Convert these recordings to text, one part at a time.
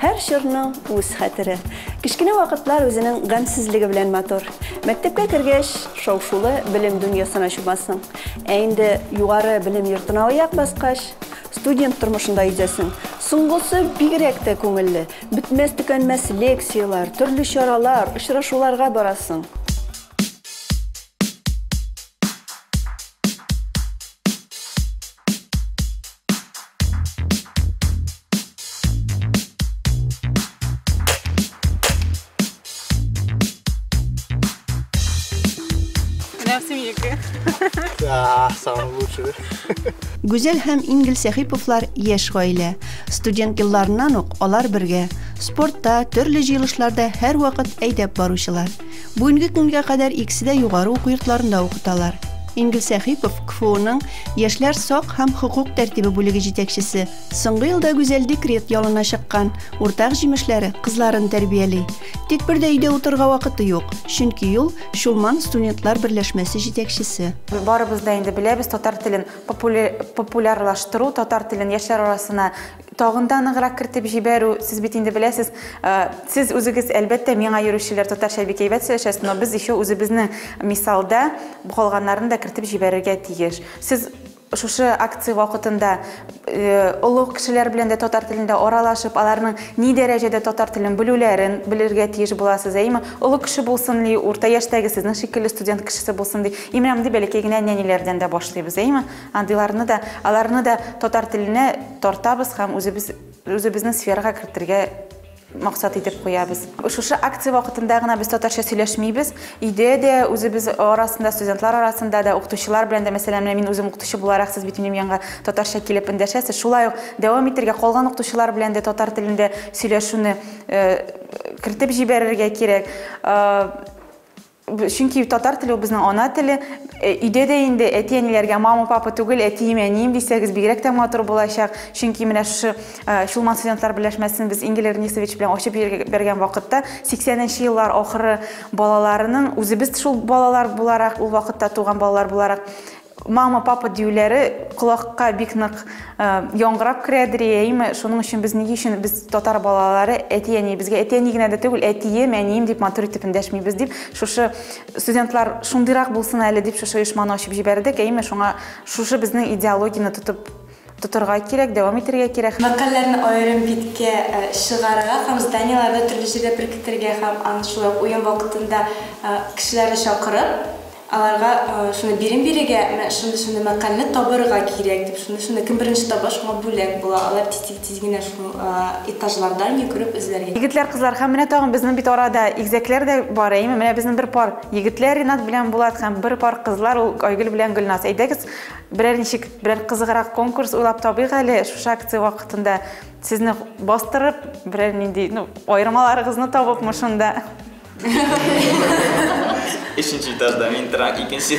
Һәр чорның үз хәтере. Кечкенә вакытлар үзенең гамьсезлеге белән матур. Мәктәпкә кергәч, шау-шулы белем дөньясына чумасың. Ә инде югары белем йортына аяк баскач, студент тормышында йөзәсең. Соңгысы бигрәк тә күңелле. Бетмәс-төкәнмәс лекцияләр, төрле чаралар, очрашуларга барасың. Да, самый лучший. Гүзәл һәм Ингел Сәхиповлар яшь гаилә. Студент елларыннан ук алар бергә спортта, төрле җыелышларда һәрвакыт әйдәп баручылар. Бүгенге көнгә кадәр икесе дә югары уку йортларында укыталар. Ингел Сәхипов, КФУның Яшьләр сак һәм хокук тәртибе бүлеге җитәкчесе. Соңгы елда Гүзәл декрет ялына чыккан, уртак җимешләре, кызларын тәрбияли. Тик бер дә өйдә утырырга вакыты юк, чөнки ул, Чулман студентлар берләшмәсе җитәкчесе. Барыбыз да инде беләбез, татар телен популярлаштыру, татар телен яшьләр арасына Тагын да ныграк кертеп җибәрү, сез бит инде беләсез, э, сез үзегез, әлбәттә, миңа йөрүчеләр татарча бик әйбәт сөйләшәсез, но без еще үзебезнең мисалда калганнарын да кертеп җибәрергә тиеш. Сез шушы акция вакытында э, олуг кешеләр белән дә татар телендә аралашып, аларның ни дәрәҗәдә татар телен белүләрен белергә тиеш буласыз, әйме? Олуг кеше булсын ли, урта яшьтәге сезнең шикелле студент кешесе булсын ди. Имрәмди бәләкәй генә нәниләрдән дә башлыйбыз, әйме? Андыйларны да, аларны да татар теленә тартабыз һәм үзебез, үзебезнең сферага кертергә максат итеп куябыз. Шушы акция вакытында гына без татарча сөйләшмибез. Өйдә дә үзебез арасында, студентлар арасында да, укытучылар белән дә, мәсәлән, мин үзем укытучы буларак, сез бит минем янга татарча килеп эндәшәсез. Шулай ук дәвам итергә, калган укытучылар белән дә татар телендә сөйләшүне э, кертеп җибәрергә кирәк. Э, Чөнки татар теле ул безнең ана теле. Өйдә дә инде әти-әниләргә мама, папа түгел, әтием, әнием дисәгез, бигрәк тә матур булачак. Чөнки менә шушы Чулман студентлар берләшмәсен без Ингель Эрнисович белән ачып җибәргән вакытта, 80 нче еллар ахыры балаларының, үзебез шул балалар буларак, ул вакытта туган балалар буларак, Мама, папа диюләре колакка бик нык яңгырап керәдер, әйеме? Шуның өчен без нигә өчен без татар балалары әти-әни, безгә әти-әни генә дә түгел, әтием, әнием дип матур итеп эндәшмибез дип, шушы студентлар шундыйрак булсын әле дип шушы оешманы ачып җибәрдек, әйеме? Шуңа шушы безнең идеологияне тотып тотырга кирәк, дәвам итәргә кирәк. Мәкальләрне аерым биткә чыгарырга һәм зданиеләрдә төрле җирдә беркетергә һәм аны шулай ук уен вакытында кешеләрне чакырып, Аларга шуны бирим бирергә, менә шундый-шундый мәкальне табырга кирәк, дип, шундый-шундый, кем беренче таба, шуңа бүләк була. Алар тиз-тиз-тиз генә шул этажлардан йөгереп эзләргә. Егетләр, кызлар, һәм менә тагын безнең бит арада игезәкләр дә бар, әйеме? Менә безнең бер пар егетләр, Ринат белән Булат, һәм бер пар кызлар, ул Айгөл белән Гөлназ. Әйдәгез, берәр ничек, берәр кызыграк конкурс уйлап табыйк әле, шушы акция вакытында сезне бастырып, берәр нинди, ну, аермаларыгызны табыпмы шунда. Өченче этажда мин торам, икенче.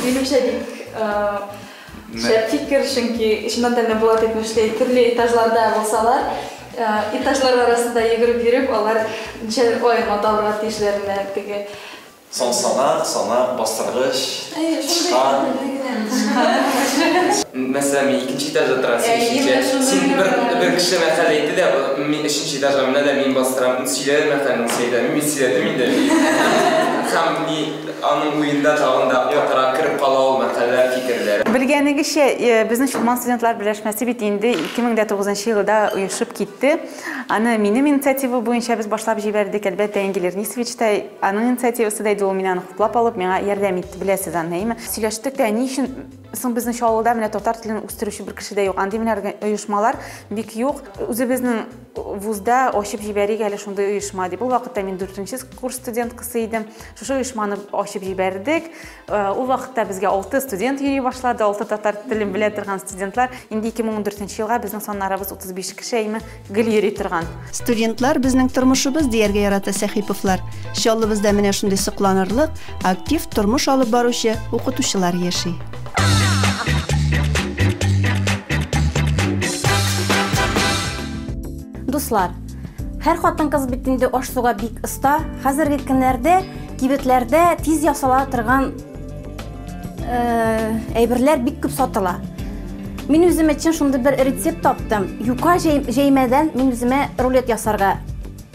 Минемчә бик шәп фикер, чөнки чыннан да менә Булат әйтмешли, төрле этажларда булсалар, этажлар арасында йөгереп йөреп, алар ничә ай маталырга тиешләренә теге Соң санап, санап, бастыргыч, тычкан. Мәсәлән, мин икенче этажда торам, син өченче. Син бер, бер кеше мәкаль әйтте дә, мин өченче этажга менә дә мин бастырам, ул сөйләде мәкальне, мин сөйләмим, мин сөйләдем инде. Һәм ни, аның уенда тагын да катырак кереп кала ул мәкальләр, фикерләр. Белгәнегезчә, безнең Чулман студентлар берләшмәсе бит инде 2009 нчы елда оешып китте. Аны минем инициатива буенча без башлап җибәрдек, әлбәттә, Энгель Эрнистович та Аның инициативасы да иде ул, мин аны хуплап алып, миңа ярдәм итте, беләсез аны, әйеме? Сөйләштек тә, ни өчен соң безнең шул авылда менә татар телен үстерүче бер кеше дә юк, андый менә оешмалар бик юк, үзебезнең вузда ачып җибәрик әле шундый оешма, дип. Ул вакытта мин дүртенче курс студенткасы идем. Шушы оешманы ачып җибәрдек. Ул вакытта безгә алты студент йөри башлады, алты татар телен белә торган студентлар. Инде 2014 елга безнең саннарыбыз 35 кеше әйме гел йөри торган. Студентлар безнең тормышыбыз дияргә ярата Сәхиповлар. Чаллыбызда менә шундый сокланырлык, актив тормыш алып баручы укытучылар яши. Дуслар, һәр хатын-кыз бит инде аш-суга бик оста. Хәзерге көннәрдә Кибетләрдә тиз ясала торган әйберләр бик күп сатыла. Мин үзем өчен шундый бер рецепт таптым. Юка җәймәдән мин үземә рулет ясарга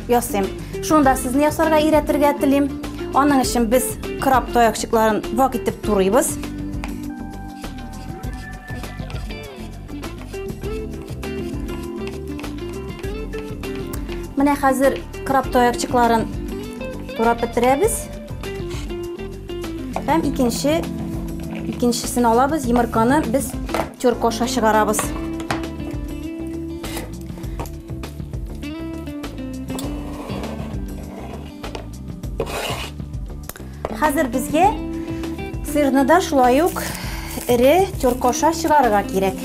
ясыйм. Шунда сезне ясарга өйрәтергә телим. Аның өчен без краб таякчыкларын вак итеп турыйбыз. Менә хәзер краб тоякчыкларын турап бетерәбез. Һәм икенче икенчесен алабыз, йомырканы без тюрка аша чыгарабыз. Хәзер безгә сырны да шулай ук эре тюркоша чыгарырга кирәк.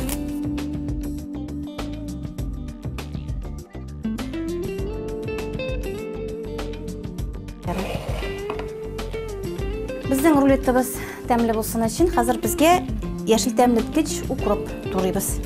Безнең рулеттыбыз тәмле булсын өчен хәзер безгә яшел тәмлеткеч укроп турыйбыз.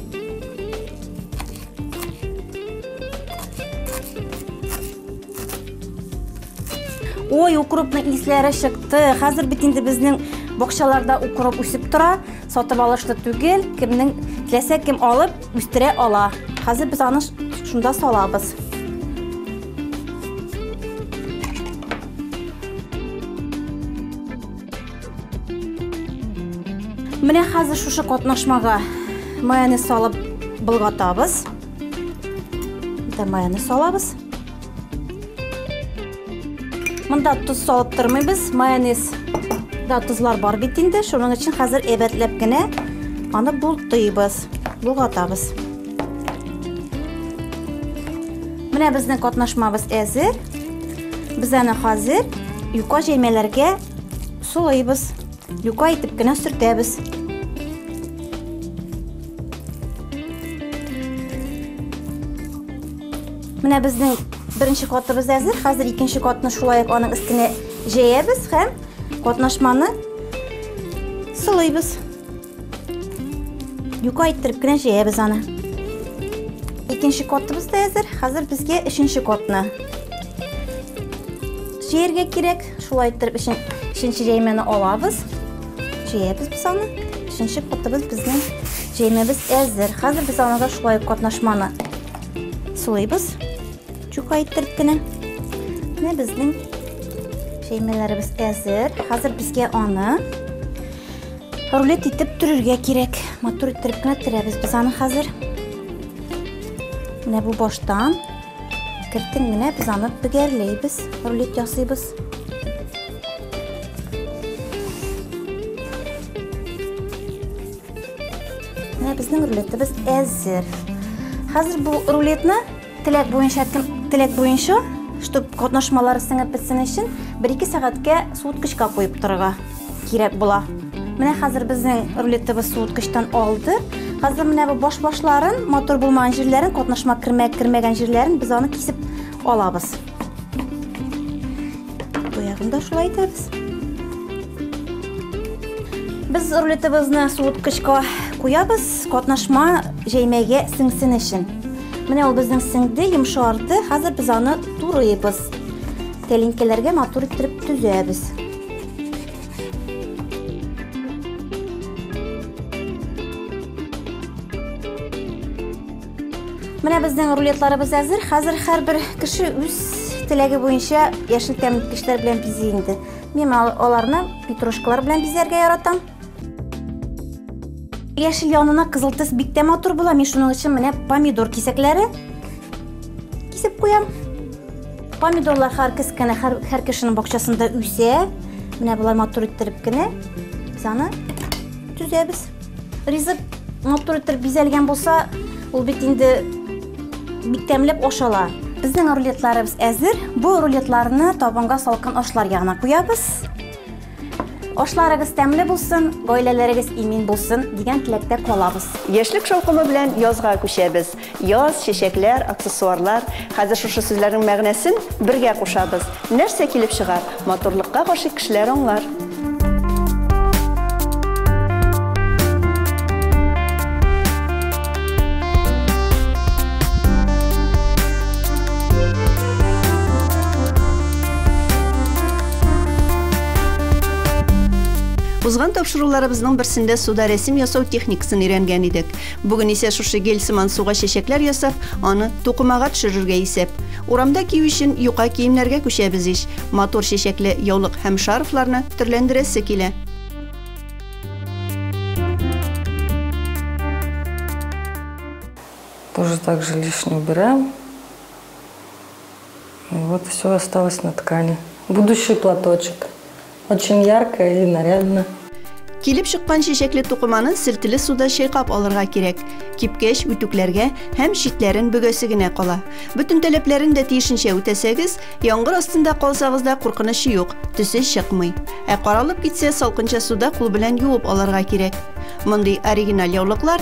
Ой, укропның исләре чыкты. Хәзер бит инде безнең бакчаларда укроп үсеп тора. Сатып алышлы түгел. Кемнең теләсә кем алып үстерә ала. Хәзер без аны шунда салабыз. Менә хәзер шушы катнашмага майонез салып болгатабыз. Дә майонез салабыз. Монда туз салып тормыйбыз, майонез да тузлар бар бит инде. Шуның өчен хәзер әйбәтләп кенә аны бултыйбыз, булгатабыз. Менә безнең катнашмабыз әзер. Без аны хәзер юка җәймәләргә сулыйбыз. Юка итеп кенә сөртәбез. Менә безнең беренче катыбыз әзер. Хәзер икенче катны шулай ук аның өстенә җәябез һәм катнашманы сылыйбыз. Юка иттереп кенә җәябез аны. Икенче котыбыз да әзер. Хәзер безгә өченче котны җәяргә кирәк. Шулай иттереп өченче җәймәне алабыз. Җәябез без аны. Өченче котыбыз безнең җәймәбез әзер. Хәзер без аны да шулай катнашманы сулыйбыз. Чука иттереп кенә. Менә безнең җәймәләребез әзер. Хәзер безгә аны Рулет итеп төрергә кирәк. Матур иттереп кенә төрәбез без аны хәзер. Менә бу баштан кертен генә без аны бөгәрләйбез, рулет ясыйбыз. Менә безнең рулетыбыз әзер. Хәзер бу рулетны Теләк буенча теләк буенча, чтобы катнашмалар сеңеп бетсен өчен, 1-2 сәгатькә суыткычка куеп торырга кирәк була. Менә хәзер безнең рулетыбыз суыткычтан алды. Хәзер менә бу баш-башларын, мотор булмаган җирләрен, катнашма кермәгән җирләрен без аны кисеп алабыз. Боягын да шулай итәбез. Без рулетыбызны суыткычка куябыз, катнашма җәймәгә сеңсен өчен. Менә ул безнең сеңде, йомшарды. Хәзер без аны турыйбыз. Тәлинкәләргә матур иттереп төзәбез. Менә безнең рулетларыбыз әзер. Хәзер һәрбер кеше үз теләге буенча яшел тәмлекечләр белән бизи инде. Мин аларны петрушкалар белән бизәргә яратам. Яшел янына кызыл төс бик тә матур була. Мин шуның өчен менә помидор кисәкләре кисеп куям. Помидорлар һәр кескәне һәр, һәр кешенең бакчасында үсә. Менә болай матур иттереп кенә без аны төзәбез. Ризык матур итеп бизәлгән булса, ул бит инде бик тәмләп ашала. Безнең рулетларыбыз әзер. Бу рулетларны табынга салкын ашлар ягына куябыз. Ашларыгыз тәмле булсын, гаиләләрегез имин булсын дигән теләктә калабыз. Яшьлек шаукымы белән язга күчәбез. Яз, чәчәкләр, аксессуарлар. Хәзер шушы сүзләрнең мәгънәсен бергә кушабыз. Нәрсә килеп чыгар? Матурлыкка гашыйк кешеләр аңлар. Узган тапшыруларыбызның берсендә суда рәсем ясау техникасын өйрәнгән идек. Бүген исә шушы гель сыман суга чәчәкләр ясап, аны тукымага төшерергә исәп. Урамда кию өчен юка киемнәргә күчәбез ич. Матур чәчәкле яулык һәм шарфларны төрләндерәсе килә. Тоже так же лишнее убираем. И вот все осталось на ткани. Будущий платочек. Очень яркая и нарядная. Килеп чыккан чәчәкле тукыманы селтеле суда чайкап алырга кирәк. Кипкәч, үтүкләргә һәм читләрен бөгәсе генә кала. Бөтен таләпләрен дә тиешенчә үтәсәгез, яңгыр астында калсагыз да куркынычы юк, төсе чыкмый. Ә каралып китсә, салкынча суда кул белән юып алырга кирәк. Мондый оригиналь яулыклар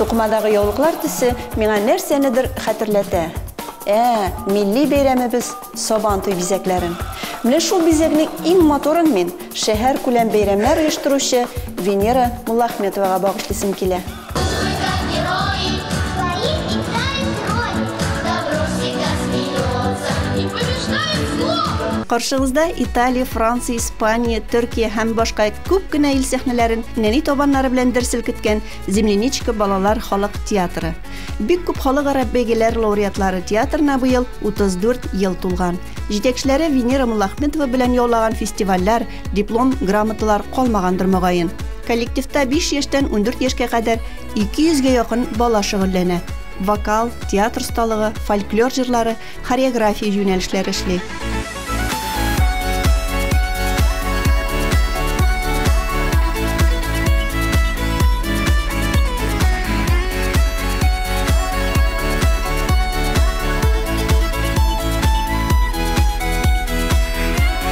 Тукмадагы яулыклар төсе миңа нәрсәнедер хәтерләтә. Ә, милли бәйрәмебез Сабан туй бизәкләрен. Менә шул бизәкнең иң моторын мин шәһәр күләм бәйрәмнәр оештыручы Венера Муллахметовага багышлыйсым килә. Каршыгызда Италия, Франция, Испания, Төркия һәм башка күп кенә ил сәхнәләрен нәни табаннары белән дер селкеткән Земляничка балалар халык театры. Бик күп халыкара бәйгеләр лауреатлары театрына быел 34 ел тулган. Җитәкчеләре Венера Муллахметова белән яулаган фестивальләр, Диплом, грамоталар калмагандыр мөгаен. Коллективта 5 яшьтән 14 яшькә кадәр 200 гә якын бала шөгыльләнә. Вокал, театр осталыгы, фольклор җырлары, хореография юнәлешләре эшли.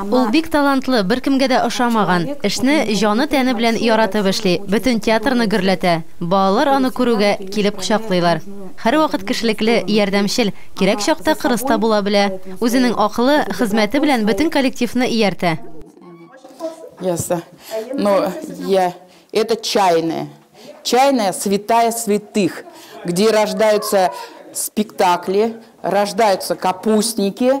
Ул бик талантлы, беркемгә дә ошамаган, эшне җаны-тәне белән яратып эшли, бөтен театрны гөрләтә. Балалар аны күрүгә, килеп кочаклыйлар. Һәрвакыт кешелекле, ярдәмчел, кирәк чакта кырыс та була белә. Үзенең акылы, хезмәте белән бөтен коллективны ияртә. Ясса. Ну, я. Это чайная. Чайная, святая святых, где рождаются спектакли, рождаются капустники,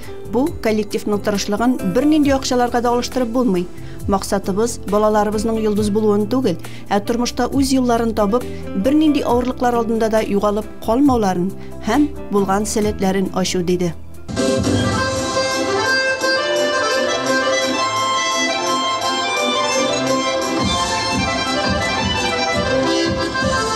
Бу коллективның тырышлыгын бернинди акчаларга да алыштырып булмый. Максатыбыз балаларыбызның йолдыз булуын түгел, ә тормышта үз юлларын табып, бернинди авырлыклар алдында да югалып калмауларын һәм булган сәләтләрен ачу, диде.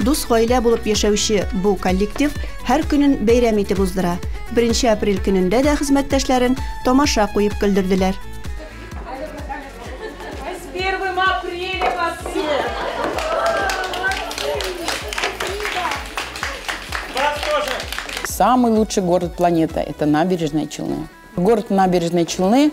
Дус гаилә булып яшәүче бу коллектив һәр көнен бәйрәм итеп уздыра. Беренче апрель көнендә дә хезмәттәшләрен тамаша куеп көлдерделәр. С первым апреля вас всех! Самый лучший город планеты, это Набережные Челны. Город Набережные Челны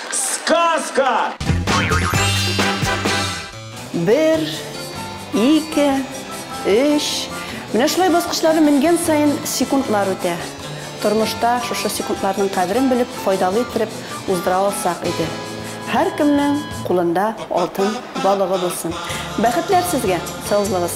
Сказка! Бер, ике, өч. Менә шулай баскычлары менгән саен секундлар үтә. Тормышта шушы секундларның кадерен белеп, файдалы иттереп уздыра алсак иде. Һәркемнең кулында алтын балыгы булсын. Бәхетләр сезгә, саузлагыз.